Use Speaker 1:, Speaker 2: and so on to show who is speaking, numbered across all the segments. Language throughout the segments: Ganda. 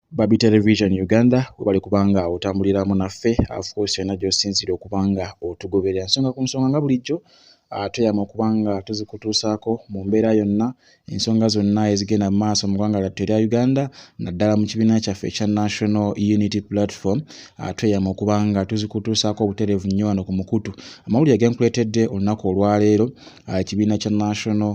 Speaker 1: Babi Television Uganda webale kubanga otambuliramu naffe afcourse yonna gyosinziira okubanga otugoberera ensonga ku nsonga nga bulijjo ah, tweyama okubanga tuzikutuusaako mu mbeera yonna ensonga zonna ezigenda mu maaso mu ggwanga lyattu erya uganda naddala mu kibiina kyaffe ekya national unity platform ah, tweyama okubanga tuzikutuusaako obutereevu nnyo wano ku mukutu amawulire genkuleetedde olunaku olwaleero ah, ekibiina kya national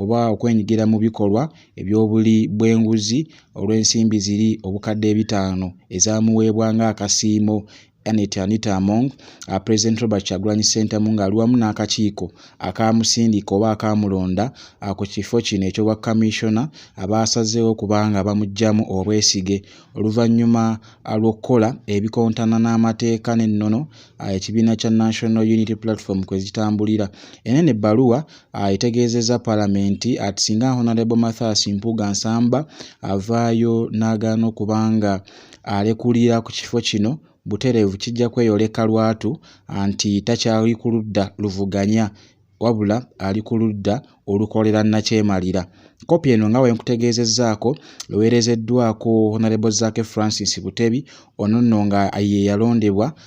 Speaker 1: oba okwenyigira mu bikolwa eby'obuli bw'enguzi olw'ensimbi ziri obukadde ebitaano ezamuweebwa ng'akasiimo Annet Anita Among, uh, President Robert Kyagulanyi Ssentamu ng'ali wamu n'akakiiko akaamusindika oba akaamulonda uh, ku kifo kino eky'obwa kamissiona abaasazeewo uh, kubanga bamuggyamu obwesige oluvannyuma uh, lw'okukola ebikontana n'amateeka n'ennono uh, ekibiina kya National Unity Platform kwe zitambulira. Eno eno ebbaluwa Ah, etegeezezza palamenti ati singa honalebo mathas mpuuga nsamba avaayo n'agaana okuba nga alekulira ku kifo kino butereevu kijja kweyoleka lwatu ah, nti takyali ku ludda luvuganya wabula ali ku ludda olukolera nakyemalira kopi eno nga wenkutegeezezzaako eweerezeddwako honalebo zaake francis butebi ono nno nga ye yalondebwa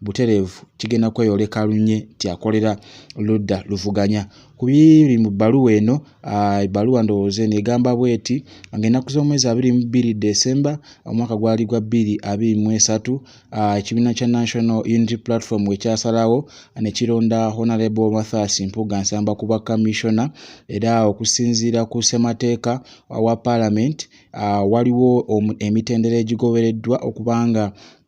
Speaker 1: butereevu kigenda kweyoleka lunye nti akolera ludda luvuganya ku biri mu bbaluwa eno ebbaluwa ndowooza eno egamba bweti nga ennaku z'omwezi abiri mu bbiri desemba omwaka gwali gwa bbiri abiri mu esatu ekibiina kya national unity platform wekyasalawo ne kironda honalebo mathas mpuga nsamba kuba kamissiona era okusinziira ku ssemateeka wa palamenti waliwo emitendera egigobereddwa okubanga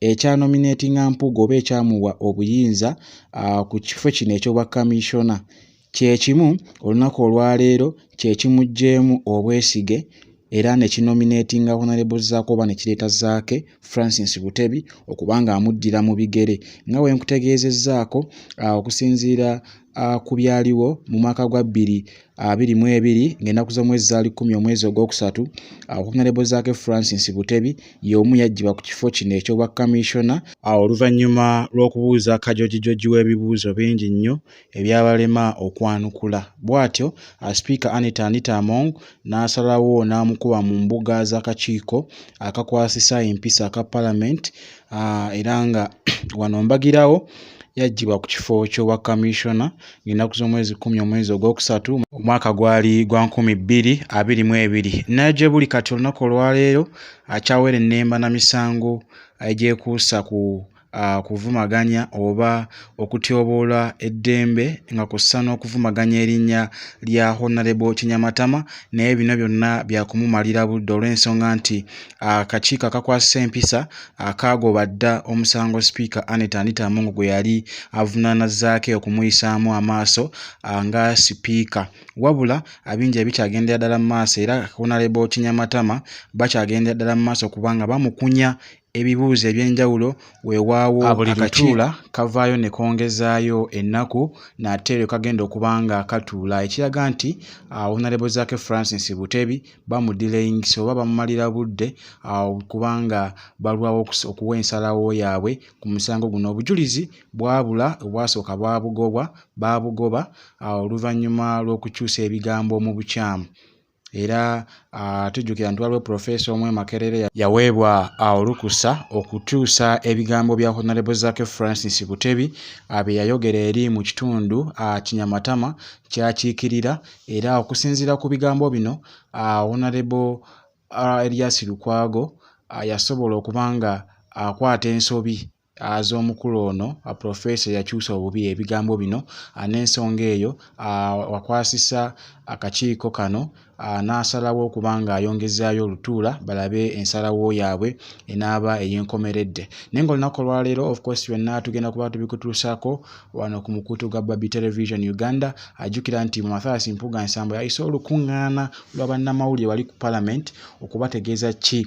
Speaker 1: ekya nominatinga Mpuuga oba ekyamuwa obuyinza ku kifo kino eky'obwa kamiisona kyekimu olunaku olwaleero kyekimuggyemu obwesige era ne kinominatinga Honorable Zaake oba ne kireeta Zaake Francis Butebi okuba ng'amuddira mu bigere nga bwe nkutegeezezzaako okusinziira ku byaliwo mu mwaka gwa bbiri abiri mu ebiri ng'ennaku z'omwezi zaali kkumi omwezi ogwokusatu okunyalebo zaake francis butebi y'omu yaggyibwa ku kifo kino eky'obwa kamishona awo oluvannyuma lw'okubuuza kajojijoji w'ebibuuzo bingi nnyo ebyabalema okwanukula bw'atyo asipiika anita anita among n'asalawo n'amukuba mu mbuga z'akakiiko akakwasisa empisa aka palamenti ah, era nga wano mbagirawo yaggyibwa ku kifo ky'obwa kamissiona ng'ennaku z'omwezi kumi omwezi ogwokusatu omwaka gwali gwa nkumi bbiri abiri mu ebiri naye gye buli kati olunaku olwaleero akyawera ennemba na misango egyekuusa ku kuvumaganya oba okutyoboola eddembe nga kussa n'okuvumaganya erinnya lya honalebo kinyamatama naye bino byonna byakumumalira budde olw'ensonga nti akakiiko akakwasisa empisa akaagoba dda omusango sipiika anet anita amongo gwe yali avunaana zaake okumuyisaamu amaaso nga sipiika wabula abingi ebikyagendera ddala mu maaso era honalebo kinyamatama bakyagendera ddala mu maaso kubanga bamukunya ebibuuzo eby'enjawulo weewaawo ah, buli lutuula kavaayo ne kongezaayo ennaku nate lwe kagenda okuba nga katuula ekiraga nti ah, onalebo zaake francis butebi bamudilayingisa oba bamumalira budde ah, kubanga balwawo okuwa ensalawo yaabwe ku musango guno obujulizi bwabula obwasooka bwabugobwa baabugoba oluvannyuma lw'okukyusa ebigambo mu bukyamu era ah, tujjukira nti waliwo profesa omu emakerere yaweebwa ah, olukusa okukyusa ebigambo bya honarebo zake francis butebi ah, bye yayogera eri mu kitundu kinyamatama kyakiikirira era okusinziira ku bigambo bino honarebo elias lukwago yasobola okuba nga akwata ensobi z'omukulu ono profesa eyakyusa obubi ebigambo bino n'ensonga eyo wakwasisa akakiiko kano n'asalawo okuba ng'ayongezaayo olutuula balabe ensalawo yaabwe enaaba ey'enkomeredde naye ngaolunaku olwaleero ofcourse byonna tugenda kuba tubikutuusaako wano ku mukutu gwa babi television uganda ajjukira nti mu mathias mpuga nsambo yayise olukuŋŋaana lwa bannamawulire wali ku palamenti okubategeeza ki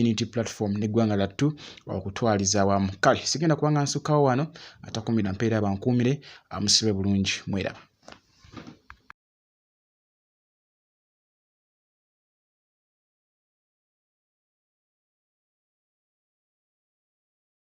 Speaker 1: unity platform neggwanga lattu okutwaliza awamu kale sigenda kubanga nsukkawo wano atakumira mpeera bankuumire amusibe bulungi mweraba